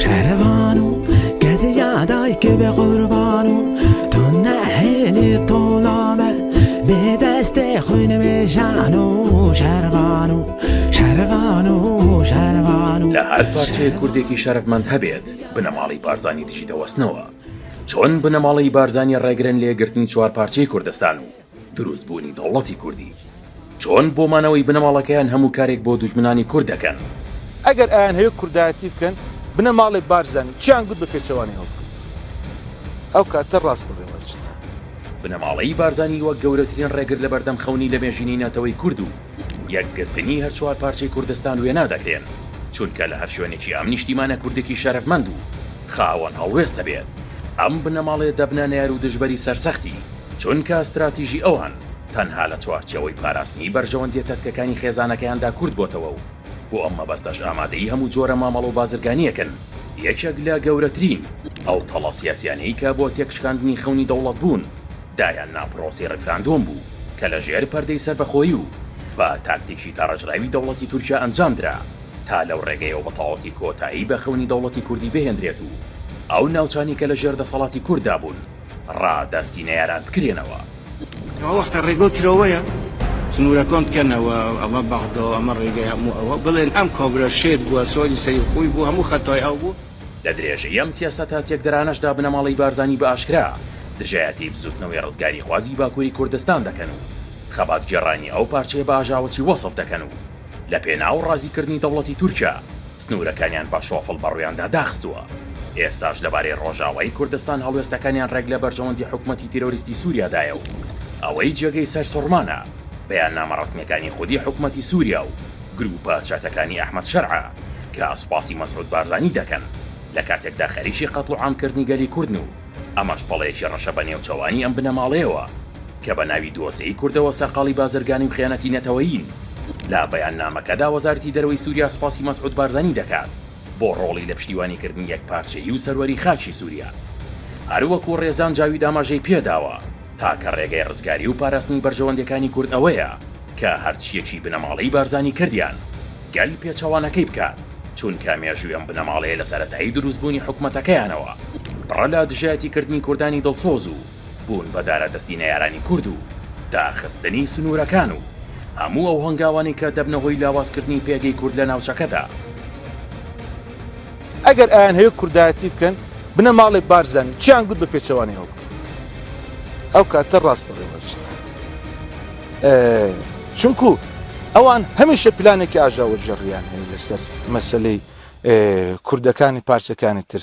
شەرەڤان و گەزی یادای کە بێ قوربان و تۆ نەهێلی تۆڵامە بێ دەستێ خۆی نەمێژان و شەرەڤان و شەرەڤان و شەرەڤان و لە هەر پارچەیەک کوردێکی شەرەفمەند هەبێت بنەماڵەی بارزانی دژی دەوەستنەوە چۆن بنەماڵەی بارزانی ڕێگرن لە یەکگرتنی چوار پارچەی کوردستان و دروستبوونی دەوڵەتی کوردی چۆن بۆ مانەوەی بنەماڵەکەیان هەموو کارێک بۆ دوژمنانی کورد دەکەن. ئەگەر ئەیانهەوێت کوردایەتی بکەن بنەماڵەی بارزانی چیان گوت بە پێچەوانەی ئەوە بکەن ئەو کاتە ڕاست بڵێن بەرچتان. بنەماڵەی بارزانی وەک گەورەترین ڕێگر لەبەردەم خەونی لەمێژینی نەتەوەی کورد و یەکگرتنی هەر چوار پارچەی کوردستان وێنا دەکرێن، چونکە لە هەر شوێنێکی ئەم نیشتیمانە کوردێکی شەرەفمەند و خاوەن هەڵوێست هەبێت، ئەم بنەماڵەیە دەبنە نەیار و دژبەری سەرسەختی، چونکە ستراتیژی ئەوان تەنها لە چوارچێوەی پاراستنی بەرژەوەندیە تەسکەکانی خێزانەکەیاندا کورت بۆتەوە و بۆ ئەم مەبەستەش ئامادەی هەموو جۆرە مامەڵە و بازرگانیەکن. یەکێک لە گەورەترین ئەو تەڵە سیاسیانەی کە بۆ تێکشکاندنی خەونی دەوڵەت بوون، دایان نا پرۆسەی ڕیفراندۆم بوو، کە لە ژێر پەردەی سەربەخۆیی و بە تاکتیکی داڕێژراوی دەوڵەتی تورکیا ئەنجام درا، تا لەو ڕێگەیەوە بە تەواوەتی کۆتایی بە خەونی دەوڵەتی کوردی بهێندرێت و ئەو ناوچانەی کە لە ژێر دەسەڵاتی کورددا بوون ڕادەستی نەیاران بکرێنەوە. ئەوە وەختە ڕێگە و ترۆوەیە سنوورە کۆن بکەنەوە، ئەمە بەغدە و ئەمە ڕێگەی هەموو ئەوە، بڵێن ئەم کۆبرە شێت بووە، سۆری سەری خووی بوو، هەموو خەتای ئەو بوو. لە درێژەی ئەم سیاسەتە تێکدەرانەشدا بنەماڵەی بارزانی بە ئاشکرا دژایەتی بزووتنەوەی ڕزگاریخوازی باکووری کوردستان دەکەن و خەباتگێڕانی ئەو پارچەیە بە ئاژاوەچی وەسف دەکەن و لە پێناو ڕازیکردنی دەوڵەتی تورکیا سنوورەکانیان بە شۆفڵ بەڕوویاندا داخستووە. ئێستاش لەبارەی ڕۆژاوای کوردستان هەڵوێستەکانیان ڕێک لە بەرژەوەندی حکومەتی تیرۆریستی سووریادایە و ئەوەی جێگەی سەرسوڕمانە بەیاننامە ڕەسمییەکانی خودی حکومەتی سووریا و گروپە چەتەکانی ئەحمەد شەرعە کە سوپاسی مەسعود بارزانی دەکەن لە کاتێکدا خەریکی قەتڵ و عام کردنی گەلی کوردن و ئەمەش پەڵەیەکی ڕەشە بە نێوچەوانی ئەم بنەماڵەیەوە کە بە ناوی دۆسێی کوردەوە سەرقاڵی بازرگانی و خیانەتی نەتەوەیین. لە بەیاننامەکەدا وەزارەتی دەرەوەی سوریا سوپاسی مەسعود بارزانی دەکات بۆ ڕۆڵی لە پشتیوانی کردنی یەکپارچەیی و سەروەری خاکی سوریا هەروەکو ڕێزان جاوید ئاماژەی پێداوە تاکە ڕێگەی ڕزگاری و پاراستنی بەرژەوەندیەکانی کورد ئەوەیە کە هەرچیەکی بنەماڵەی بارزانی کردیان گەل پێچەوانەکەی بکات چونکە مێژوی ئەم بنەماڵەیە لە سەرەتایی دروست بونی حکومەتەکەیانەوە پڕە لە دژایەتی کردنی کوردانی دڵسۆز و بون بە دارە دەستی نەیارانی کورد و داخستنی سنورەکان و هەموو ئەو هەنگاوانەی کە دەبنە هۆی لاواز کردنی پێگەی کورد لە ناوچەکەدا. ئەگەر ئەیانهەوێ کوردایەتی بکەن بنەماڵەی بارزانی چیان گوت بە پێچەوانەی ئەوە بکەن ئەو کاتە ڕاست بەڕێوە ئەچێت. چونکو ئەوان هەمیشە پلانێکی ئاژاوە جێڕیان هەیە لەسەر مەسەلەی کوردەکانی پارچەکانی تر.